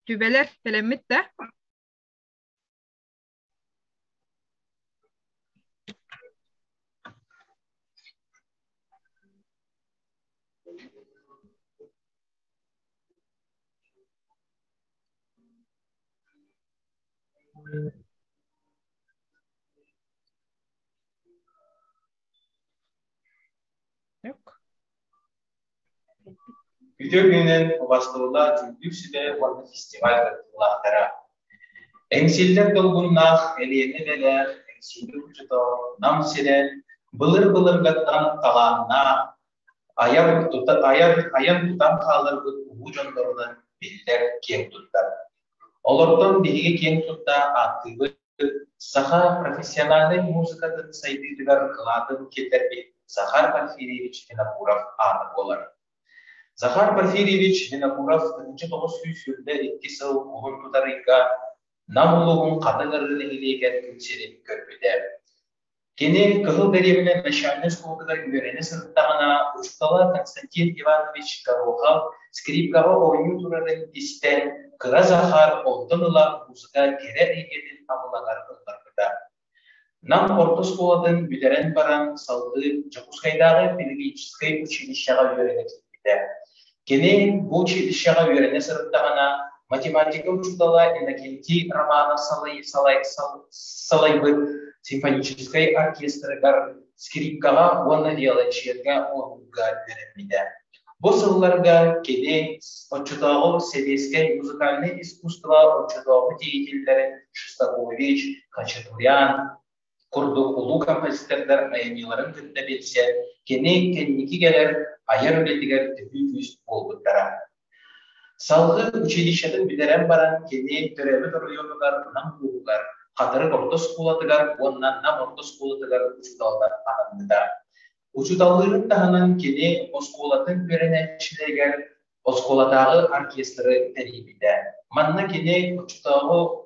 Түбэлэр тэлэммит да? Yok. Күтүр күнүнэн убастыллаах үрдүк сүбэ уонна фестиваль кыттыылаахтара Эҥсиллэр долгуннаах Элиэнэ Бэлэр Эҥсилии учутоон Нам сирэн былыр-былыргаттан талааннаах айар тута айар айан тутан хааларбыт улуу дьоннорунан биллэр киэҥ туттар. Олортон биһиги киэҥ тутта ааттыыбыт Саха профессиональнай музыкатын сайдыытыгар кылаатын тиэрдэрбит Захар Порфирьевич Винокуров аата буолар. Захар Порфирьевич Винокуров ытынчы тоҕус сүүс сүрдэ икки сыл уһун тутарыйга Нам улууһун Хатыҥ Арыы нэһилиэгэр күн сирин көрбүтэ. Кини Кыһыл дэриэбинэ начальнай оскуолатыгар үөрэнэ сырыттаҕына, учуутала Константин Иванович Горохов скрипкаҕа оонньуу турарын истэн, кыра Захар онтон ыла музыка кэрэ эйгэтин абылаҥар ылларбыта. Нам орто оскуолатын бүтэрэн баран, салгыы Дьокуускайдааҕы педагогическай училищеҕа үөрэнэ киирбитэ. Кини бу училищеҕа үөрэнэ сырыттаҕына, математика учуутала Иннокентий Романов салайбыт симфоническай оркестрыгар, скрипкаҕа уонна виолончельга оонньуурга үөрэммитэ. Бу сылларга кини оччотооҕу сэбиэскэй музыкальнай искусство оччотооҕу деятеллэрин Шестакович, Хачатурян, курдук улуу композитордар айымньыларын кытта билсэр, кини кэнники кэлэр айар үлэтигэр төһүү күүс буолбуттара. Салгыы училищетын бүтэрэн баран, кини төрөөбүт оройуонугар Нам ууһугар, Хатырык орто оскуолатыгар уонна Нам орто оскуолатыгар учууталынан анаммыта. Учууталлыырын таһынан кини оскуолатын үөрэнээччилэригэр оскуолатааҕы оркестры тэрийбитэ. Манна кини оччотооҕу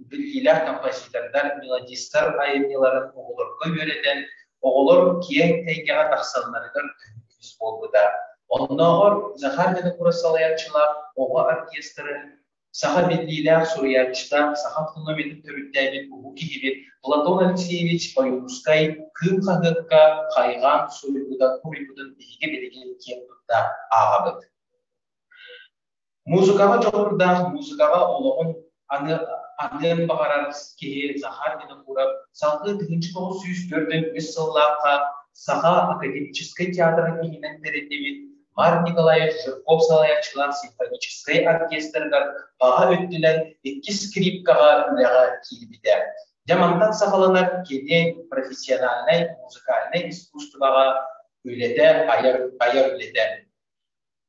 биллиилээх композитордар, мелодистар айымньыларын оҕолорго үөрэтэн, оҕолор киэҥ эйгэҕэ тахсалларыгар көмүс буолбута. Оннооҕор Захар Винокуров салайааччылаах оҕо оркестрын Саха биллиилээх суруйааччыта, саха тылын-өһүн төрүттээбит уһук киһибит Платон Алексеевич Ойуурускай Кыым хаһыакка хайҕаан суруйбутун биһиги билигин киэн тутта ааҕабыт. Музыкаҕа дьоҕурдаах, музыкаҕа олоҕун аны аныан баҕарар киһи Захар Винокуров салгыы тыһыынча тоҕус сүүс төрдөн үс сыллаахха Саха академическай театрын иһинэн тэриллибит Марк Николаев Жирков салайааччылар симфоническай оркестрыгар баҕа өттүнэн иккис скрипкаҕа үлэҕэ киирбитэ. Дьэ мантан саҕаланар кини профессиональнай музыкальнай искусствоҕа үлэтэ айар айар үлэтэ.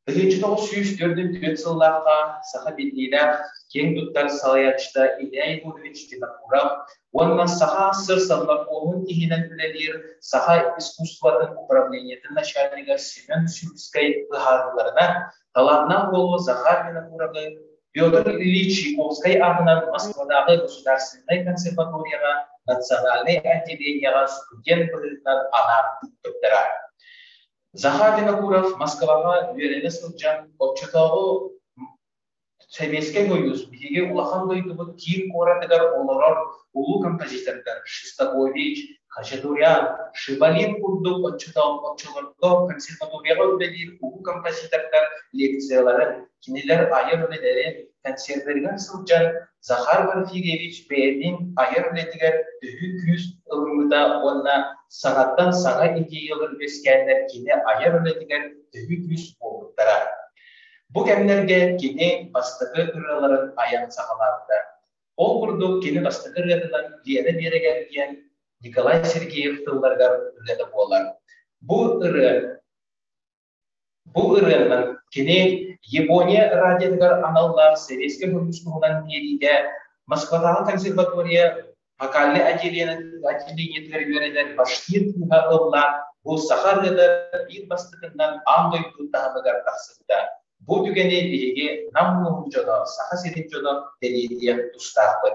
Тыһыынча тоҕус сүүс төрт сыллаахха саха биллиилээх киэҥ туттар салайааччыта Илья Егорович Винокуров Уонна саха сыр-санмакуоһун иһинэн үлэлиир саха искусствотын управлениетын начальнига Семен Сюльскай быһаарыыларынан, талааннаах буолуо Захар Винокуровы Петр Ильич Чайковскай аатынан Москвадааҕы государственнай консерваторияҕа национальнай отделениеҕа студент быһыытынан анаан ыыппыттара. Захар Винокуров Москваҕа үөрэнэ сылдьан оччотооҕу Сэбиэскэй Сойуус биһиги улахан дойдубут киин куоратыгар олорор улуу композитордар Шестакович, Хачатурян, Шибалин курдук оччолорго консерваторияҕа үлэлиир улуу композитордар лекцияларын, кинилэр айар үлэлэрин консервлэригэр сылдьан Захар Порфирьевич бэйэтин айар үлэтигэр төһүү күүс ылыммыта уонна саҥаттан саҥа идеялар үөскээннэр кини айар үлэтигэр төһүү күүс буолбуттара. Бу кэмнэргэ кини бастакы ырыаларын айан саҕалаабыта. Ол курдук кини бастакы ырыатынан Лена Берегер диэн Николай Сергеев тылларыгар ырыата буолар. Бу ырыа бу ырыанан кини Япония радиотыгар аналлаах сэбиэскэй хомуспуһунан биэриитэ Москватааҕы консерватория Фокальнай отделениетыгар үөрэнэн башкир тыыһа ыллаан бу саха ырыата биир бастакынан аан дойду таһымыгар тахсыбыта. Бу түгэни биһиги Нам улууһун дьоно, Саха сирин дьоно тэлиэтиэх тустаахпыт.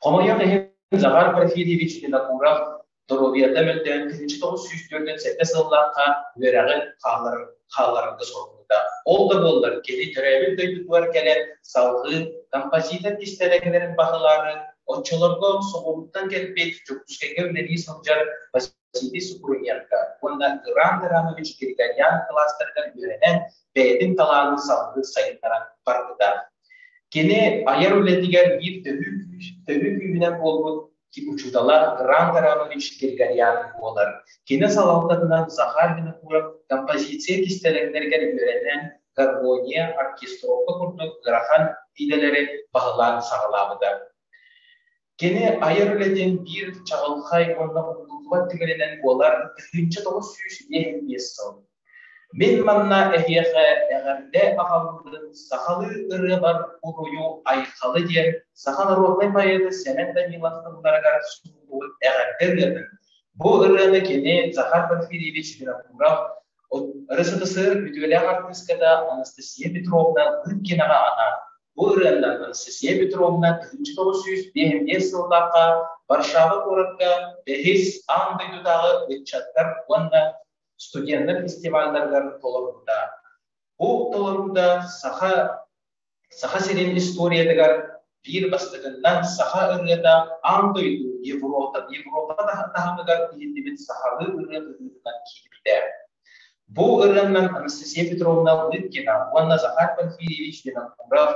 Хомойуох иһин, Захар Порфирьевич Винокуров доруобуйата мөлтөөн күнүчү тоҕус сүүс түөртүн сэттэ сыллаахха үөрэҕин хаалларарга соруйда. Ол да буоллар кини төрөөбүт дойдутугар кэлэн салгыы композитор кистэлэ кэлэрин баһылаары оччолорго соҕурууттан кэлбит Дьокуускайга үлэлии сылдьар Василий Супруненко уонна Гран Драмович Григорян класстарыгар үөрэнэн бэйэтин талаанын салгыы сайыннаран барбыта. Кини айар үлэтигэр биир төһүү күүһүнэн буолбут учуутала Гран Гранович Григорян буолар. Кини салалтатынан Захар Винокуров композиция кистэлэҥнэригэр үөрэнэн, гармония, оркестровка курдук ыарахан идэлэри баһылаан саҕалаабыта. Кини айар үлэтин биир чаҕылхай уонна уһуллуллубат түгэнинэн буолар тыһыынча тоҕус сүүс биэс сыл Мин манна эһиэхэ эҕэрдэ аҕалбытын сахалыы ырыабар уруйу Айхалы диэн саха народнай поэты Сэмэн Данилов тылларыгар суруйбут эҕэрдэ ырыатын Бу ырыаны кини Захар Порфирьевич Винокуров, режиссер, үтүөлээх артыыската Анастасия Петровна Лыткинаҕа анаан Бу ырыанан Анастасия Петровна тыһыынча тоҕус сүүс биэһинбиэс сыллаахха Варшава куоракка бэһис аан дойдутааҕы ыччаттар уонна студеннар фестивалларыгар толоруута. Бу толоруута Саха Саха сирин историятыгар биир бастакынан саха ырыата аан дойду Европа Европа таһымыгар иһиллибит сахалыы ырыа быһыытынан киирбитэ. Бу ырыаннан Анастасия Петровна Лыткина уонна Захар Порфирьевич Винокуров,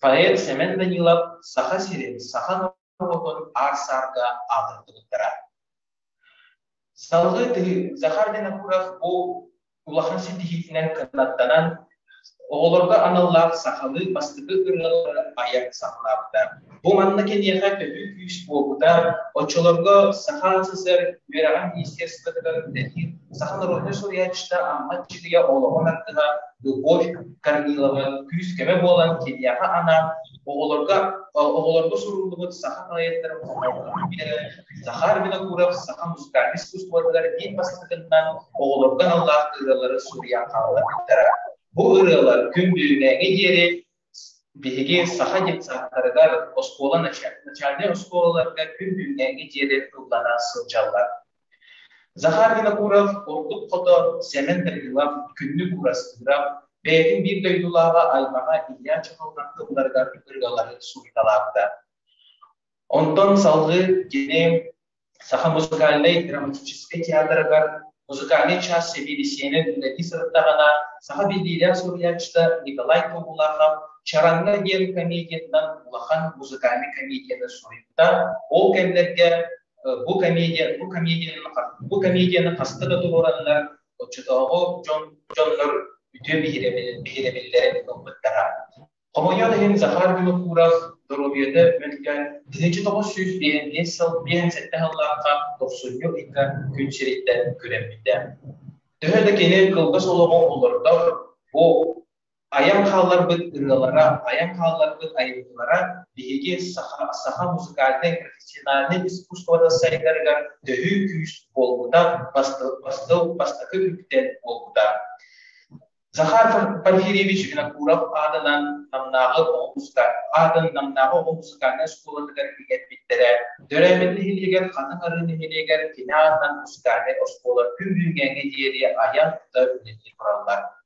поэт Семен Данилов Саха сирин, саха олоҕун аар-саарга аатырбыттара. Салгыы Захар Винокуров бу улахан ситиһиитинэн кынаттанан, оҕолорго аналлаах сахалыы бастакы ырыалары айар саҕалаабыта. Бу манна киниэхэ төһүү күүс буолбута, оччолорго Саха СССР үөрэҕэр министерствотыгар үлэлиир саха народнай суруйааччыта Амма Дьилийэ олоҕун ардыһа Любовь Корнилова күүс-көмө буолан киниэхэ анаан Оҕолорго оҕолорго суруллубут саха поэттарын саха альминатуров, саха музыкальнай искусствотыгар биир бастакытынан оҕолорго аналлаах ырыалары суруйан хаалларбыттара. Бу ырыалар күн бүгүнээҥи диэри биһиги саха детсадтарыгар, оскуола начальнай оскуолаларга күн бүгүнээҥи диэри ыллана сылдьаллар. Захар Винокуров ордук хото, Сэмэн Дагилов күннүк уурастыырап, бэйэтин биир дойдулааҕа аймаҕа Илья Чеховнахты уларыгар ырыалары суруйталаабыта. Онтон салгыы кини Саха музыкальнай драматическай театрыгар музыкальный час сэбиэдиссэйинэн үлэлии сырыттаҕына, саха биллиилээх суруйааччыта Николай Тобулахов «Чараҥҥа» диэн комедиятынан улахан музыкальный комедияны суруйбута. Ол кэмнэргэ бу комедия, бу комедияны, бу комедияны хаста да туруораннар, оччотооҕу дьон, дьоннор үтүө биһирэбиллэрин ылбыттара. Хомойуох иһин Захар Винокуров доруобуйата мөлтөөн 1995 сыл 58 сыллаахха дохсунньу ыйга күн сириттэн күрэммитэ. Төһө да кини кылгас олоҕу олордор, бу Айан хаалларбыт ырыалара, айан хаалларбыт айымньылара биһиги саха, саха музыкальнай профессиональнай искусствода сайдарыгар төһүү күүс буолбута бастык, бастык, бастакы үбүттэн буолбута. Захар Порфирьевич Винокуров аатынан Намнааҕы оҕо аатын Намнааҕы оҕо музыкальнай оскуолатыгар иҥэрбиттэрэ. Дөрөмүн нэһилиэгэр Хатыҥ Арыы нэһилиэгэр кини аатынан музыкальнай оскуола күн бүгүҥҥэ диэри айан тута үлэлии тураллар.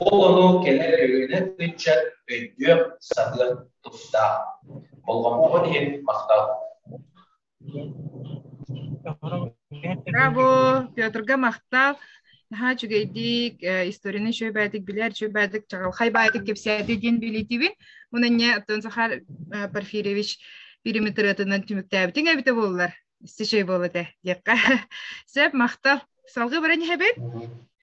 Ол ону кэлэр өйөнөн ыччат өйдүөх-саһыах тустаах. Болҕомтоҕун иһин махтал. Браво! Петрга махтал. Наһаа үчүгэйдик, историяны шөбәдик, билэр шөбәдик, чагалхай байтик кепсәди диэн билетибин. Мунанне оттон Захар Порфирьевич периметратынан түмүктээбитиҥ эбитэ боллар. Истишей болоте диэххэ. Сеп махтал. Салгы баран иһэбит.